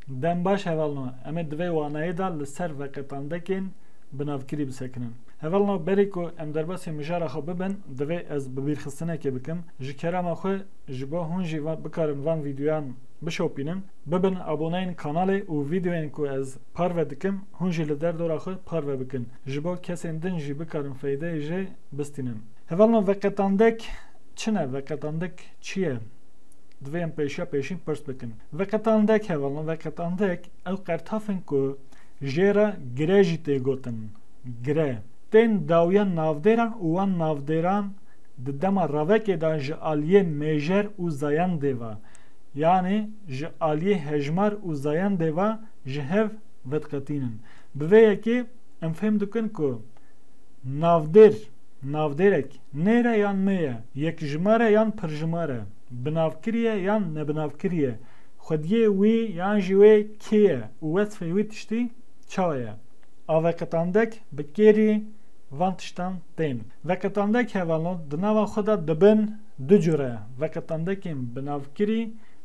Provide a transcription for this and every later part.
Dem baş hevalno em ê di vê wanayê de li ser veqetandekên bi navkirî bisekinin. Hevalno berî ku em derbasî mijara xwe bibin divê ez bibîrxistinekê bikim. Ji kerema xwe ji bo hûn jî bikarin van vîdyoyan bişopînin. Bibin aboneyên kanalê û vîdyoyên ku ez parve dikim hûn jî li derdora xwe parve bikin. Ji bo kesên din jî bikarin feydeyê jê bistînin. Hevalno veqetandek çi ne? Veqetandek çi ye? Divê em pêşiya pêşîn pirs bikin. Veqetandek hevalno veqetandek ew qertaf in ku jê re gire jî tê gotin. Gire tên dawiya navdêran û wan navdêran di dema ravekê de ji aliyê mêjer û zayendê ve yanî ji aliyê hejmar û zayendê ve ji hev vediqetînin. Bi vê yekê em fêm dikin ku navdêr, Navdêrek, nêre yan nêye, yekjimare yan pirjimare, binavkiriye yan nebinavkiriye, xwediyê wî yan jî wê kê ye û wesfê wî tiştî çawa ye? A veqetandek bi kêrî van tiştan tên. Veqetandek hevalo di nava xwe de dibin du cure, veqetandekên binavkirî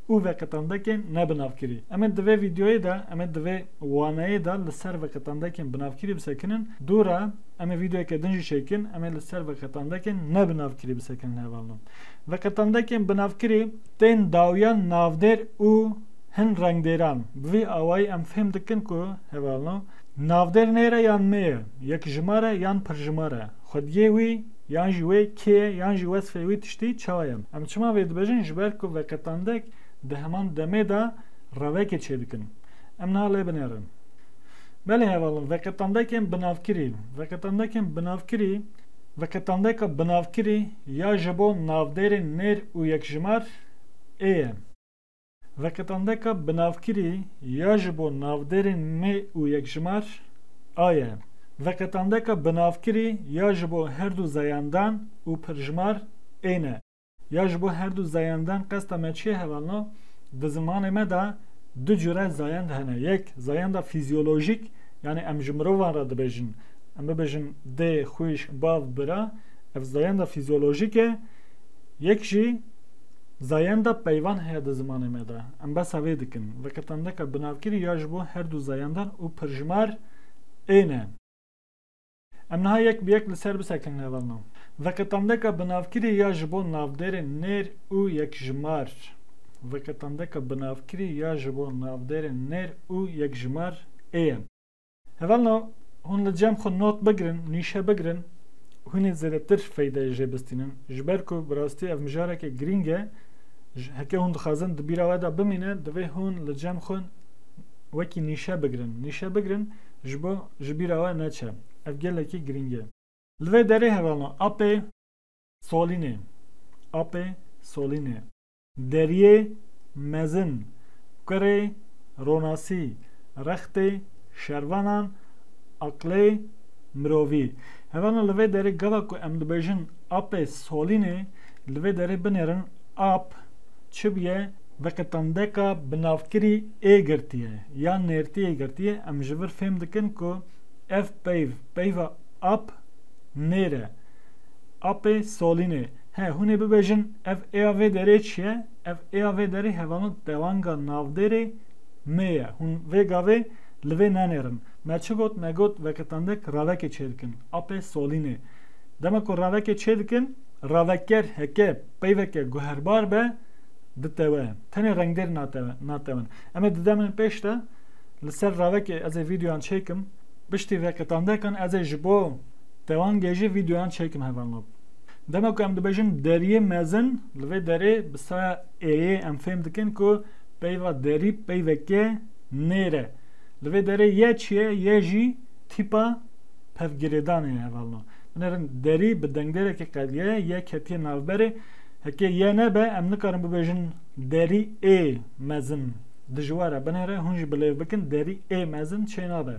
û veqetandekên nebinavkirî. Em ê di vê vîdeoyê de, em ê di vê waneyê de li ser veqetandekên binavkirî bisekinin. Dû re. Em ê vîdeoyeke din jî çêkin, em ê li ser veqetandekên ne binavkirî bi sekinên heval no. Veqetandekên binavkirî tên dawiyan navdêr û hin rengdêran. Bi vî awayî em fêm dikin ku heval no navdêr nêre yan nê ye, yekjimar e yan pirjimar e, xwediyê wî yan jî wê kê ye yan jî wesfê wî tiştî çawa ye. Em çima vê dibêjin ji ber ku veqetandek di heman demê de revekê çêdikin. Em niha lê binêrin. Belê hevalin, veqetandekên binavkirî, veqetandekên binavkirî, veqetandeka binavkirî ya ji bo navdêrên nêr û yekjimar ê ye. Veqetandeka binavkirî ya ji bo navdêrên nê û yekjimar a ye. Veqetandeka binavkirî ya ji bo herdu zeyandan û pirjimar ê ne. Ya ji bo her du zayendan qesta me çi ye hevalno, di zimanê me de du cure zayend hene. Yek zayenda fîzyolojîk yanî em ji mirovan re dibêjin. Em bibêjin dê, xwîş, bav, bira ev zayenda fîzyolojîk e. Yek jî zayenda peyvan heye di zimanê me de. Em behsa vê dikin. Veke tendeka binavkirî ya ji bo her du zayendan û pirjimar ên e. Em niha yek bi yek li ser bisekin nava me. Veqetandeka binavkirî ya ji bo navdêrên nêr û yekjimar Veqetandeka binavkirî ya ji bo navdêrên nêr û yekjimar ê ye. Hevalno, hûn li cem xwe not bigirin, nîşe bigirin, hûn ê zêdetir feyde jê bistînin, ji ber ku bi rastî ev mijareke girîng e, heke hûn dixwazin di bîra we de bimîne, divê hûn li cem xwe wekî nîşe bigirin, nîşe bigirin, ji bo ji bîra we neçe. Ev gelekî girîng e. Li vê derê hevalna apê solînê, apê solînê. Deriyê mezin, kurê ronasî, rextê şervanan, aqlê mirovî. Hevalna li vê derê gava ku em dibêjin apê solînê, li vê derê binêrin ap çi bûye, Veqetandeka binavkirî ê girtiye yan nêrtiyê girtiye em ji vir fêm dikin ku ev peyv, peyva ap nêr e, apê solînê. He hûn ê bibêjin ev êya vê derê çi ye? Ev êya vê derê hevalno tewanga navdêrê nê ye. Hûn vê gavê li vê nenêrin. Me çi got? Me got veqetandek ravekê çê dikin, apê solînê. Dema ku ravekê çê dikin, raveker heke peyveke guherbar be, ditewe. Tenê rengdêr natewin. Em ê di demên pêş de li ser ravekê ez ê vîdeoyan çêkim. Piştî vê qetandekan ez ê ji bo tewangê jî vîdeoyan çêkim hevalab. Dema ku em dibêjin deriyê mezin li vê derê bi saya êyê em fêm dikin ku peyva derî peyveke nêr e. Li vê derê ye çi ye ye jî tîpa pevgirêdanê ye hevalno. Binêrin derî bi dengdêrekê qedye ye ketiye navberê. Heke ye nebe em nikarin bibêjin derî ê mezin dijwar e binêre hûn jî bilêv bikin derî ê mezin çê nabe.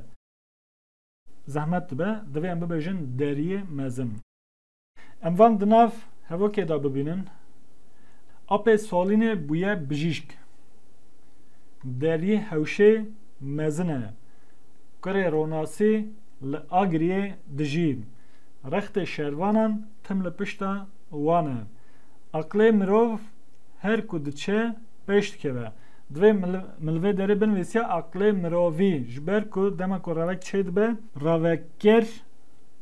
Zehmet dibe divê em bibêjin deriyê mezin. Em van di nav hevokê de bibînin. Apê Salînê bûye bijîşk. Deriyê hewşê mezin e. Kurê Ronasî li Agiriyê dijî. Rextê şervanan tim li pişta wan e. Aqilê mirov her ku diçe pêş dikeve. Divê milvê derê binivîsiya aqilê mirovî ji ber ku dema ku ravek çêdibe raveker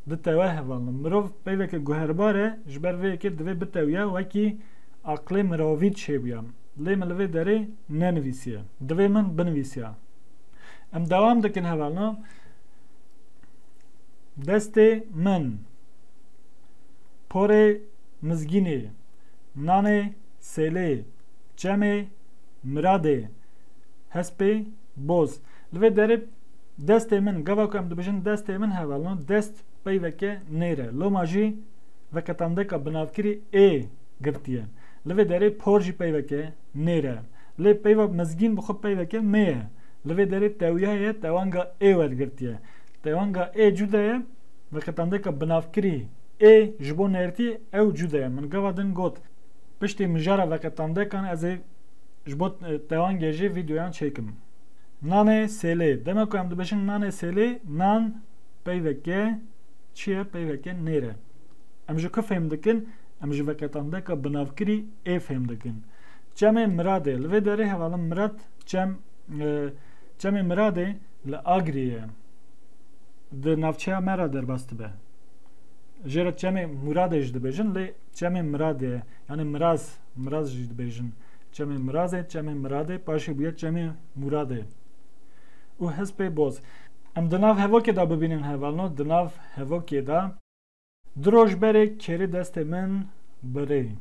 ditewe hevalno. Mirov peyveke guherbar e ji ber vê yekê divê bitewiya wekî aqilê mirovî çêbûya. Lê milvê derê nenivîsiye. Divê min binivîsiya. Em dewam dikin hevalno. Destê min. Porê mizgînê, nanê sêlê, çemê miradê, hespê boz. Li vê derê destê min, gava ku em dibêjin destê min hevalino, dest peyveke nêr e. Loma jî veqetandeka binavkirî ê girtiye. Li vê derê por jî peyveke nêr e. Lê peyva mizgîn bi xwe peyveke mê ye. Li vê derê tewya ye tewanga ê wergirtiye. Tewanga ê cuda ye. Veqetandika binavkirî ê ji bo nêrtî ew cude ye. Min gava din got, piştî mijara veqetandekan ez ê ji bo tewangê jî vîdeoyan çêkim. Nanê sêlê, dema ku em dibêjin nanê sêlê, nan peyveke çi ye, peyveke nêr e. Em ji ku fêm dikin, em ji veqetandeka binavkirî ê fêm dikin. Çemê Miradê, li vê derê hevalin Mirad çem, çemê Miradê li Agiriyê ye. di navçeya me re derbas dibe. Jê re çemê Mûradê jî dibêjin lê çemê Miradê ye. Yanî Miraz, Miraz jî dibêjin. Çemê Mirazê, çemê Miradê paşê bûye çemê Mûradê. Û hispê boz. Em di nav hevokê de bibînin hevalno di nav hevokê de. Du roj berê kêrê destê min birî.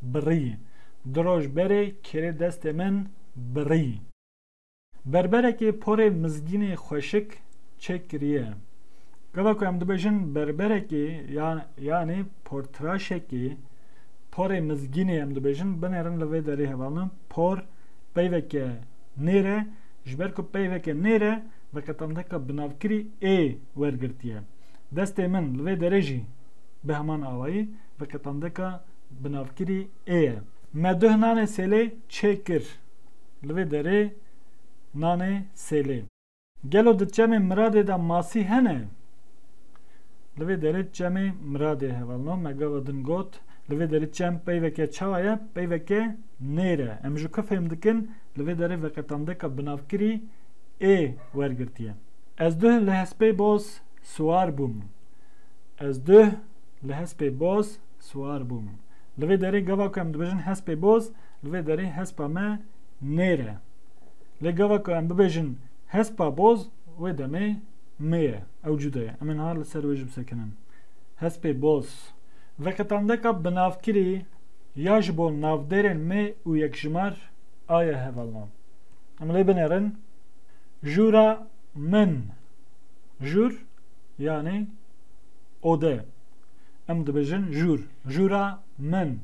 Birî. Du roj berê kêrê destê min birî. Berberekê porê mizgînê xweşik çêk kiriye. Gava ku em dibêjin berberekê yanê portiraşekê porê mizgînê em dibêjin binêrin li vê derê hevalna por peyveke nêr e ji ber ku peyveke nêr e veqetandeka binavkirî ê wergirtiye. Destê min li vê derê jî bi heman awayî veqetandeka binavkirî ê ye. Me duh nanê sêlê çêk kir. Li vê derê nanê sêlê. Gelo di çemê Miradê de masî hene? Li vê derê çemê Miradê heval no. Me gava din got, li vê derê çem peyveke çawa ye, peyveke nêr e. Em ji ku fêm dikin, li vê derê veqetandeka binavkirî ê wergirtiye. Ez duh li hespê boz siwar bûm. Ez duh li hespê boz siwar bûm. Li vê derê gava ku em dibêjin hespê boz, Li vê derê hespa me nêr e. Lê gava ku em bibêjin hespa boz wê demê mê ye. Ew cuda ye. Em ê niha li ser wê jî bisekinin. Hespê boz. Veqetandeka binavkirî ya ji bo navdêrên mê û yekjimar a ye hevalna. Em lê binêrin jûra min. Jûr yanî ode. Em dibêjin jûr. Jûra min.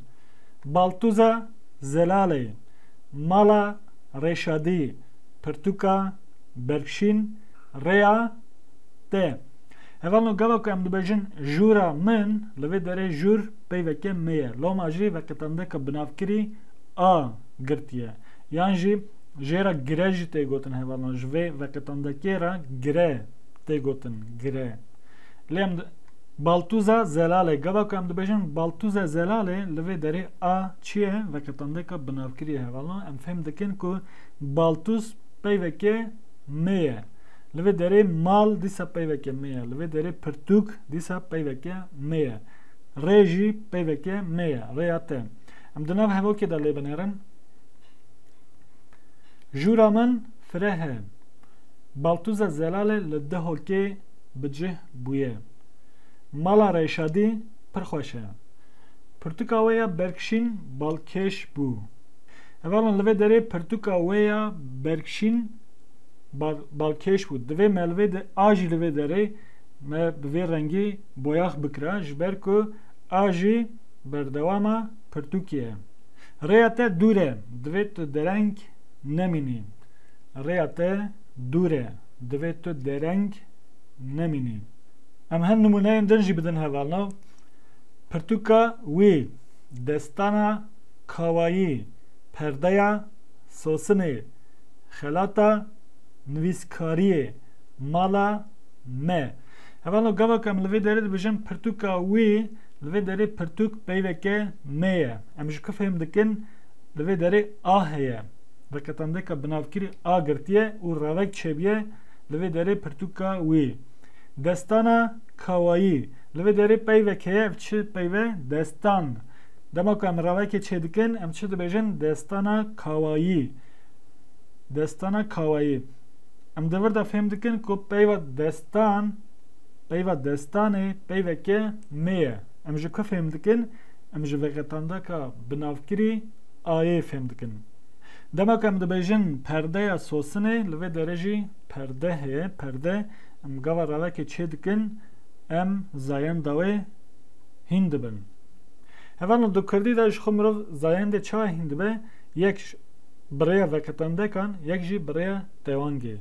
Baltûza Zelalê, Mala Rêşadî, Pirtûka Berkşîn, Rêya te. Heval no gava ku em dibêjin jûra min, li vê derê jûr peyveke me ye. Loma jî veqetandeka binavkirî a girtiye. Yan jî jê re gire jî tê gotin heval no ji vê veqetandekê re gire tê gotin gire. Lê em Baltûza Zelalê Gava ku em dibêjin Baltûza Zelalê li vê derê a çi ye veke tandeka binavkirî ye. Hevalno em fêm dikin ku Baltûz peyveke me ye. Li vê derê mal dîsa peyveke me ye. Li vê derê pirtûk dîsa peyveke me ye. Rê jî peyveke me ye. Rêya te. Em di nav hevokê de lê binêrin. Jûra min fireh e. Baltûza Zelalê li Dihokê bi cih bûye. Mala Reyşadî pir xweş e. Pirtûka wê ya berkşîn balkêş bû. Hevalan li vê derê pirtûka wê ya berkşîn balkêş bû. Divê me li vê de a jî li vê derê me bi vê rengî boyax bikira ji ber ku a jî berdewama pirtûkê ye. Rêya te dûr e. Divê tu dereng nemînî. Rêya te dûr e. Divê tu dereng nemînî. Em hin nimûneyên din jî bidin hevalnav, Pirtûka wî, destana kawayî, perdeya sosinê, xelata nivîskariyê, mala me. Hevalno gava ku em li vê derê dibêjin pirtûka wî, li vê derê pirtûk peyveke me ye. Em ji ku fêhm dikin li vê derê a heye. Di qetandeka binavkirî a girtiye û revek çêbiye li vê derê pirtûka wî. Destana kawayî. Li vê derê peyvek heye ev çi peyve? Destan. Dema ku em revekê çêdikin em çi dibêjin? Destana kawayî. Destana kawayî. Em di vir de fêm dikin ku peyva destan peyva destanê peyveke nê ye. Em ji ku fêm dikin? Em ji veqetandaka binavkirî ayê fêm dikin. Dema ku em dibêjin perdeya sosinê li vê derê jî perde heye, perde em gava ravekê çê dikin em zayenda wê hîn dibin. Heval li kurdî de jixwe mirov zayendê çawa hîn dibe yek ji bi rêya veketandekan yek jî bi rêya tewangê.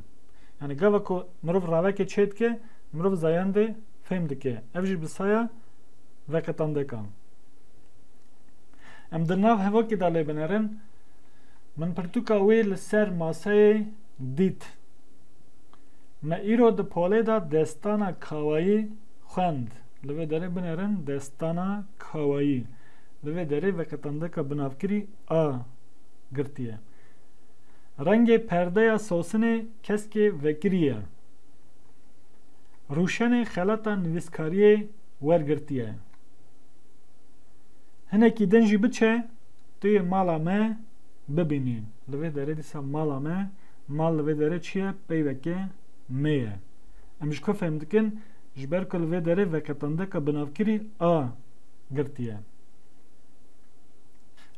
Yanî gava ku mirov ravekê çê dike mirov zayendê fêm dike ev jî bi saya veketandekan. Em di nav hevokê de lê binerin. Min pirtûka wê li ser maseyê dît. Me îro di polê de destana kawayî xwend. Li vê derê binerin destana kawayî. Li vê derê veqetandeka binavkirî a girtiye. Rengê perdeya sosinê keskê vekirî ye. Rûşenê xelata nivîskariyê wergirtiye. Hinekî din jî biçe tu yê mala me bibînî. Li vê derê dîsa mala me, mal li vê derê çi ye? Peyveke me ye. Em ji ku fehm dikin, ji ber ku li vê derê veqetandeka binavkirî a girtiye.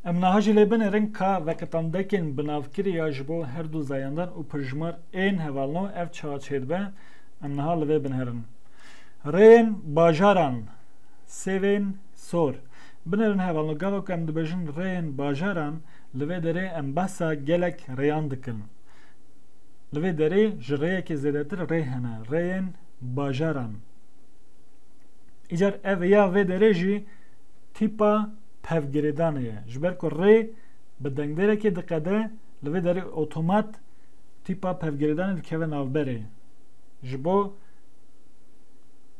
Em niha jî lê binêrin ka veqetandekên binavkirî ya ji bo her du zayandan û pirjimar ên hevalno ev çawa çêdibe, em niha li vê binêrin. Rêyên bajaran, sêvên. Sor. Binêrin hevalno gava ku em dibêjin rêyên bajaran li vê derê em behsa gelek rêyan dikin. Li vê derê ji rêyekê zêdetir rê hene, rêyên bajaran. Îcar ev ya vê derê jî tîpa pevgirêdanê ye. Ji ber ku rê bi dengdêrekê diqede, li vê derê otomat tîpa pevgirêdanê dikeve navberê. Ji bo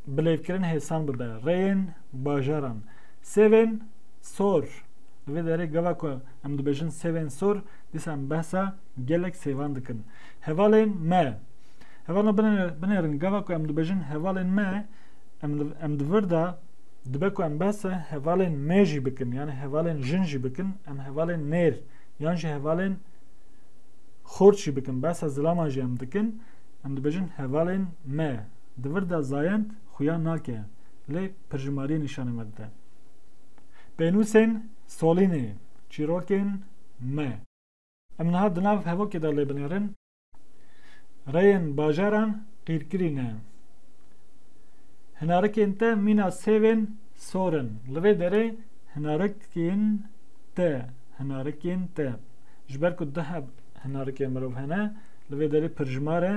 bilêvkirin hêsan bibe, rêyên bajaran. Sêvên sor, Di vê derê gava ku em dibêjin sêvên sor, dîsa em behsa gelek sêvan dikin. Hevalên me, Hevalan binêrin, gava ku em dibêjin hevalên me, em di vir de dibe ku em behsa hevalên me jî bikin yanî hevalên jin jî bikin, em hevalên nêr yan jî hevalên xort jî bikin, behsa zilaman jî em dikin, em dibêjin hevalên me. Di vir de zayend xuya nake. lê pirjimariyê nîşanê me dide. Pênûsên solînê, çîrokên me. Em niha di nav hevokê de lê binêrin, rêyên bajaran qîrkirî ne. Hinarikên te mîna sêvên sor in. Li vê derê hinarikên te, hinarikên te. Ji ber ku duh hinarikên mirov hene, li vê derê pirjimar e,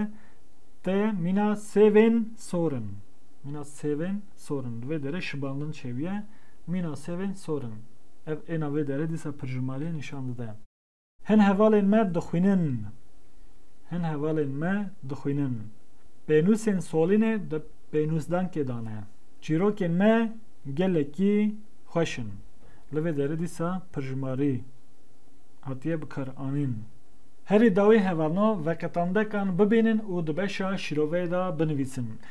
te mîna sêvên sor in. Mîna sêvên sorin. Di vê derê şibandin çêbûye. Mîna sêvên sorin. Ev êna vê derê dîsa pirjimariyê nîşan dide. Hin hevalên me dixwînin. Hin hevalên me dixwînin. Pênûsên Solînê di pênûsdankê de ne. Çîrokên me gelekî xweş in. Li vê derê dîsa pirjimarî hatiye bikaranîn. Herî dawî hevalno veqetandekan bibînin û di beşa şîroveyê de binivîsin.